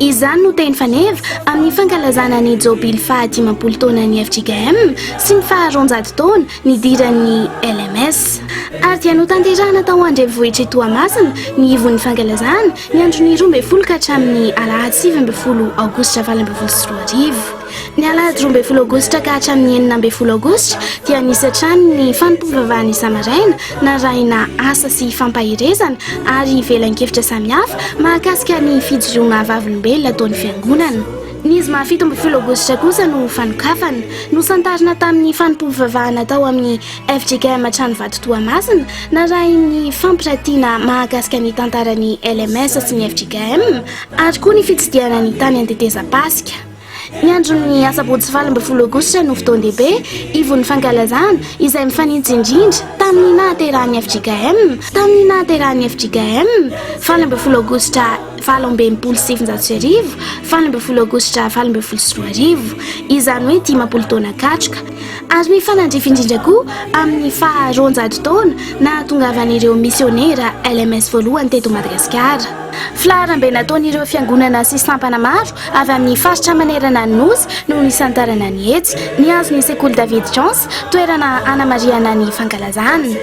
Izany no teny faneva amin'ny fankalazana ny Jobily faha dimampolo taonan'ny fjkm sy ny faha roanjato taona nidiran'ny LMS. Ary dia notanterahina tao an-drenivohitr'i Toamasina ny ivon'ny fankalazana, ny andron'ny roa ambin'ny folo ka hatramin'ny alahady sivy ambin'ny folo aogositra valo ambin'ny folo sy roa arivo. Ny alahady roa ambin'ny folo aogositra ka hatramin'ny enina ambin'ny folo aogositra dia nisy hatrany ny fanompoam-bavahana isa-maraina narahina asa sy fampaherezana ary velan-kevitra samihafa mahakasika ny fijoroana vavolombelona ataon'ny Fiangonana. Ny zoma fito ambin'ny folo aogositra kosa no fanokafana. Nosantarina tamin'ny fanompoam-bavahana tao amin'ny fjkm Tranovato Toamasina narahin'ny fampiratiana mahakasika ny tantaran'ny LMS sy ny fjkm ary koa ny fitsidihana ny tany an-tetezam-pasika. Ny andron'ny asabotsy valo ambin'ny folo aogositra no fotoan-dehibe ivon'ny fankalazana izay mifanitsy indrindra tamin'ny nahaterahan'ny fjkm tamin'ny nahaterahan'ny fjkm valo ambin'ny folo aogositra valo amby enimpolo sy sivinjato sy arivo valo ambin'ny folo aogositra valo ambin'ny folo sy roa arivo izany hoe dimampolo taona katroka ary mifanandrify indrindra koa amin'ny faharoanjato taona nahatongavan'ireo misionera LMS voalohany teto Madagasikara. Filaharambe nataon'ireo fiangonana sy sampana maro avy amin'ny faritra manerana ny Nosy no nisantarana ny hetsy. Nihazo ny sekoly David Jones toerana hanamarihana ny fankalazana.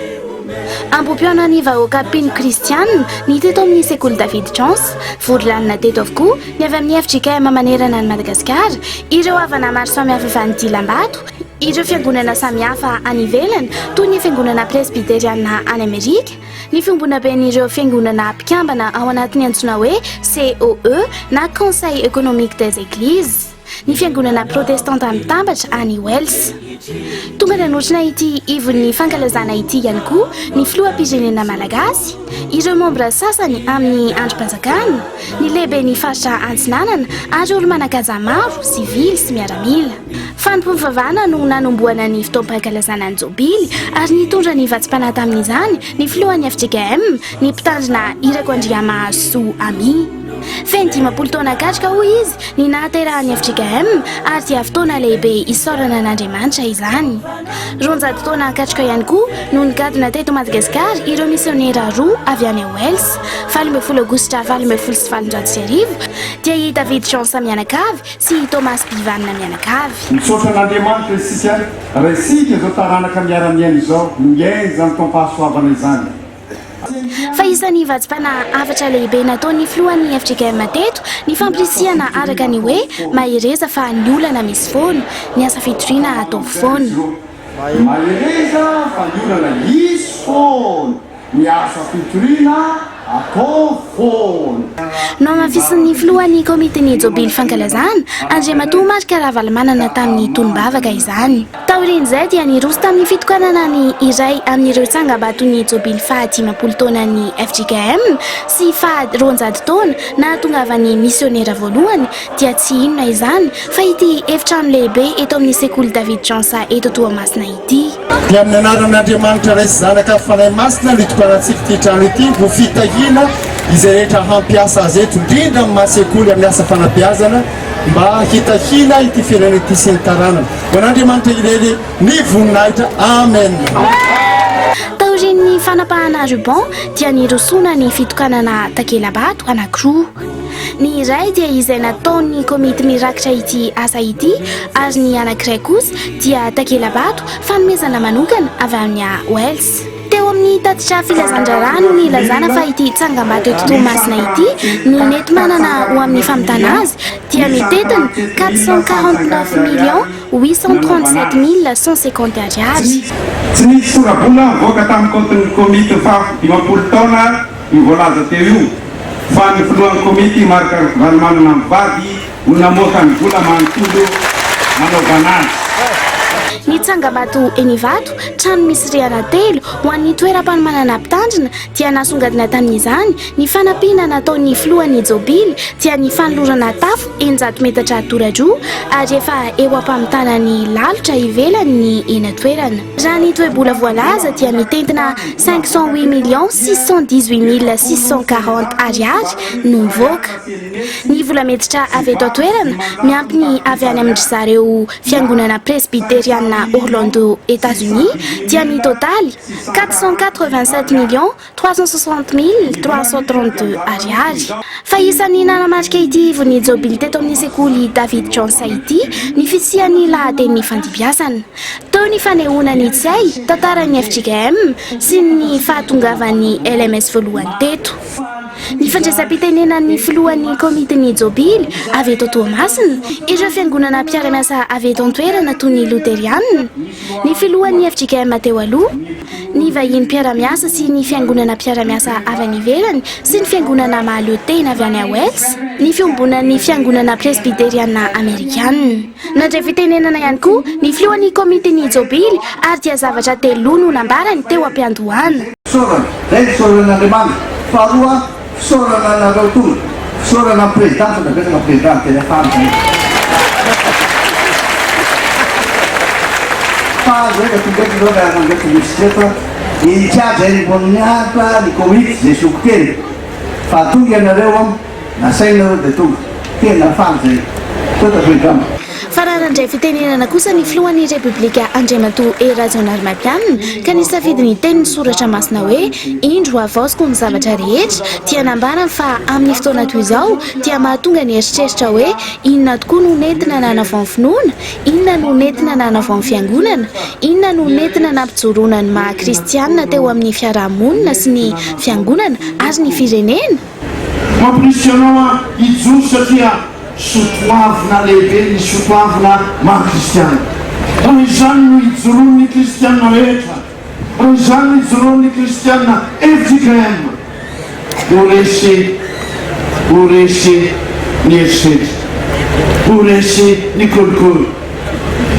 Ambohipihaona an'ny vahoaka mpino kristiana ny teto amin'ny sekoly David Jones. Vory lanona teto avokoa ny avy amin'ny fjkm manerana an'i Madagasikara, ireo havana maro samihafa avy any Dilambato, ireo fiangonana samihafa any ivelany toy ny fiangonana presbyteriana any Amerika, Ny fiombonaben'ireo fiangonana mpikambana ao anatin'ny antsoina hoe COE na Conseil Economique des Eglises, ny fiangonana protestanta mitambatra any Wells. Tonga nanotrona ity ivon'ny fankalazana ity ihany koa ny filoham-pirenena malagasy, ireo mambra sasany amin'ny andrim-panjakana, ny lehiben'ny faritra Antsinanana ary olo-manan-kaja maro, sivily sy miaramila. Fanompoam-pivavahana no nanombohana ny fotoam-pankalazana ny Jobily ary nitondra ny vatsim-panahy tamin'izany ny filohan'ny fjkm, ny mpitandrina Irako Andriamahazo Soa Amy. Feno dimampolo taona katroka, hoy izy, ny nahaterahan'ny fjkm ary dia fotoana lehibe isaorana an'Andriamanitra izany. Roanjato taona katroka ihany koa no nigadona teto Madagasikara ireo misionera roa avy any Wells, valo ambin'ny folo aogositra valo ambin'ny folo sy valonjato sy arivo, dia i David Jean samianakavy, Sy i Thomas Bivanina mianakavy. Misaotra an'Andriamanitra isika raha isika izao taranaka miara-miaina izao no miaina izany taom-pahasoavana izany. Fa isan'ny vatsim-panahy hafatra lehibe nataon'ny filohan'ny FJKM teto ny fampirisihana araka ny hoe mahereza fa ny olana misy foana, ny asa fitoriana ataovy foana. Mahereza fa ny olana hisy foana, ny asa fitoriana atao foana. Nohamafisin'ny filohan'ny Komitin'ny Jobily Fankalazana, Andriamatoa Marc Ravalomanana tamin'ny tolom-bavaka izany. Taorian'izay dia niroso tamin'ny fitokanana ny iray amin'ireo tsangambaton'ny Jobily faha dimampolo taonan'ny fjkm sy faha roanjato taona nahatongavan'ny misionera voalohany, dia tsy inona izany fa ity efitrano lehibe eto amin'ny sekoly David Jansa eto Toamasina ity. Dia amin'ny anaran'Andriamanitra Ray sy Zanaka Fanahy Masina no itokanatsika ity trano ity ho fitahiana izay rehetra hampiasa azy eto, indrindra amin'ny maha sekoly amin'ny asa fanabeazana mba hitahiana ity firenena ity sy ny taranany. Ho an'Andriamanitra irery ny voninahitra. Amen. Taorian'ny fanapahana ruban dia nirosoana ny fitokanana takela-bato anankiroa. Ny iray dia izay nataon'ny komity mirakitra ity asa ity ary ny anankiray kosa dia takela-bato fanomezana manokana avy amin'ny AHWELS. Teo amin'ny tatitra filazan-draharaha no nilazana fa ity tsangambato eto Toamasina ity ny nety manana ho amin'ny famitana azy dia mitentina quatre cent quarante neuf millions huit cent trente sept mille cent cinquante ariary. Tsy nisy sora-bola nivoaka tamin'ny kaontin'ny komity ny faha dimampolo taona. Io voalaza teo io fa ny filohan'ny komity Marc Ravalomanana mivady no namoaka ny vola manontolo nanaovana azy. Ny tsangambato eny Ivato, trano misy rihana telo ho an'ny toeram-panomanana mpitandrina dia nasongadina tamin'izany, ny fanampiana nataon'ny filohan'ny Jobily dia ny fanolorana tafo eninjato metatra toradroa ary efa eo am-pamitana ny lalotra ivelany ny eny an-toerana. Raha ny toe-bola voalaza dia mitentina cinq cent huit millions six cent dix-huit mille six cent quarante Ariary no mivoaka. Ny vola miditra avy eto an-toerana miampy ny avy any amin-dry zareo Fiangonana Presbyteriana Orlando Etazonia dia mitotaly quatre cent quatre-vingt-sept millions trois cent soixante mille trois cent trente deux Ariary. Fa isan'ny nanamarika ity ivon'ny Jobily teto amin'ny sekoly David Johnson ity ny fisian'ny lahatenin'ny fandibiasana. Teo ny fanehoana ny tsy hay tantaran'ny fjkm sy ny fahatongavan'ny LMS voalohany teto. Ny fandraisam-pitenenan'ny filohan'ny komitin'ny Jobily avy eto Toamasina, ireo fiangonana mpiara-miasa avy eto an-toerana toy ny Loterianina, ny filohan'ny fjkm teo aloha, ny vahiny mpiara-miasa sy ny fiangonana mpiara-miasa avy any ivelany sy ny fiangonana mahaleo tena avy any Wales ny fiombonan'ny fiangonana presbyteriana amerikana. Nandray fitenenana ihany koa ny filohan'ny komitin'ny jobily ary dia zavatra teloa no nambarany teo am-piandohana. Fisaorana, Ray, fisaoran'Andriamanitra. Faharoa, Fisaorana anareo koa. Fisaorana amin'ny Président sao dia apetraka Président amin'ny teny afara izany e. Fa aza hoe efa tonga eto izao ilay ananjy efa misy tsy eto a. In charge any Amboniahafa ny Covid izay zoky teny. Fa tonga ianareo an, nasainareo dia tonga. Tena faly izay. Sao dia Président. Fa raha nandray fitenenana kosa ny filohan'ny Repoblika Andriamatoa Hery Rajaonarimampianina ka nisafidy ny tenin'ny soratra masina hoe indro havaoziko ny zavatra rehetra dia nambarany fa amin'ny fotoana toy izao dia mahatonga ny eritreritra hoe inona tokoa no nentina nanavao ny finoana? inona no nentina nanavao ny fiangonana? inona no nentina nampijoroana ny maha kristianina teo amin'ny fiaraha-monina sy ny fiangonana ary ny firenena? Mamporisika anao aho hijoro satria soatoavina lehibe ny soatoavina maha kristiana. Raha izany no ijoroan'ny kristiana rehetra, raha izany no ijoroan'ny kristiana fjkm ho resy ho resy ny herisetra, ho resy ny kolikoly,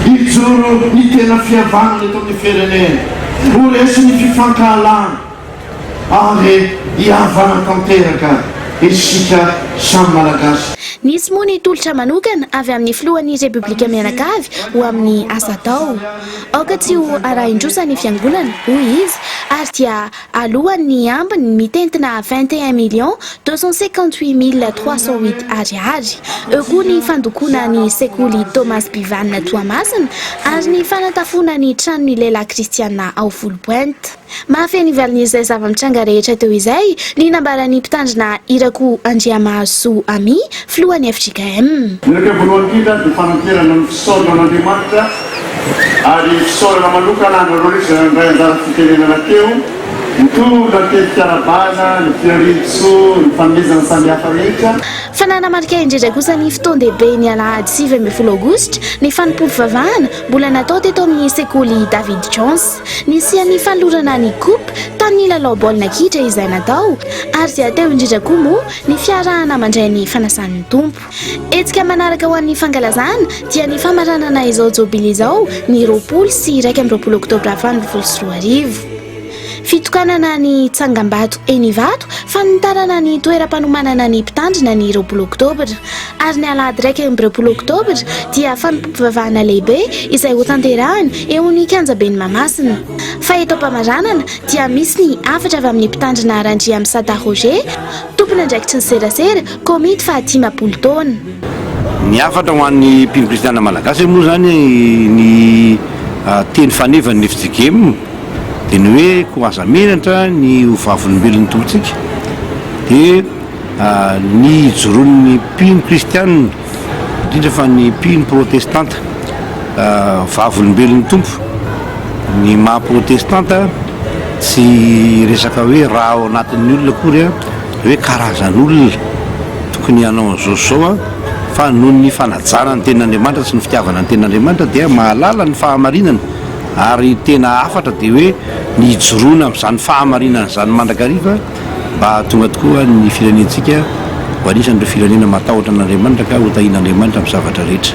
hijoro ny tena fihavanana eto amin'ny firenena, ho resy ny fifankahalana. ary hihavana tanteraka isika samy Malagasy. Nisy moa ny tolotra manokana avy amin'ny filohan'ny Repoblika mianakavy ho amin'ny asa atao. Aoka tsy ho arahin-trosa ny fiangonana, hoy izy, ary dia alohan' ny ambiny mitentina vingt et un millions deux cent cinquante-huit mille trois cent huit Ariary. Eo koa ny fandokoana ny sekoly Thomas Bivanina Toamasina ary ny fanatafona ny tranon'ny lehilahy kristiana ao Foulpointe. Mahafehy ny valin'izay zava-mitranga rehetra teo izay ny nambaran'ny mpitandrina Irako Andriamahasoa Amy, filohan'ny fjkm. Ny iraika voalohany indrindra dia fananterana ny fisaorana an'Andriamanitra ary fisaorana manokana anareo rehetra izay nandray anjara fitenenana teo. Mitory ny antenimpiarabana, ny fiharian-tsoa, ny fanomezana samihafa rehetra. Fa nanamarika indrindra kosa ny fotoan-dehibe ny alahady sivy ambin'ny folo aogositra ny fanompoam-pivavahana mbola natao teto amin'ny sekoly David Jones. Nisian'ny fanolorana ny Coupe tamin'ny lalao baolina kitra izay natao ary dia teo indrindra koa moa ny fiarahana mandray ny fanasan'ny Tompo. Hetsika manaraka ho an'ny fankalazana dia ny famaranana izao Jobily izao ny roapolo sy iraika amby roapolo oktobra valo ambin'ny folo sy roa arivo. Fitokanana ny tsangambato eny Ivato, fanitarana ny toeram-panomanana ny mpitandrina ny roapolo oktobra. ary ny alahady iraika amby roapolo oktobra dia fanompoam-pivavahana lehibe izay hotanterahina eo amin'ny kianjaben'i Mahamasina. Fa eto am-pamaranana dia misy ny hafatra avy amin'ny mpitandrina Randriamisada Roger, tompon'andraikitry ny serasera, komity fahadimapolo taona. Ny hafatra ho an'ny mpino kristiana malagasy moa izany ny teny fanevan'ny FJKM dia ny hoe koa aza menatra ny ho vavolombelon'ny Tompontsika dia Ny ijoroan' ny mpino kristiana, indrindra fa ny mpino protestanta, Vavolombelon' ny Tompo. Ny maha protestanta tsy resaka hoe ra ao anatin' ny olona akory, hoe karazan' olona tokony hanao an' izao sy izao, fa noho ny fanajana ny tenin' Andriamanitra sy ny fitiavana ny tenin' Andriamanitra dia mahalala ny fahamarinana, ary tena hafatra dia hoe ny hijoroana amin' izany fahamarinana izany mandrakariva. mba hahatonga tokoa ny firenentsika ho anisan'ireo firenena matahotra an'Andriamanitra ka hotahian'Andriamanitra amin'ny zavatra rehetra.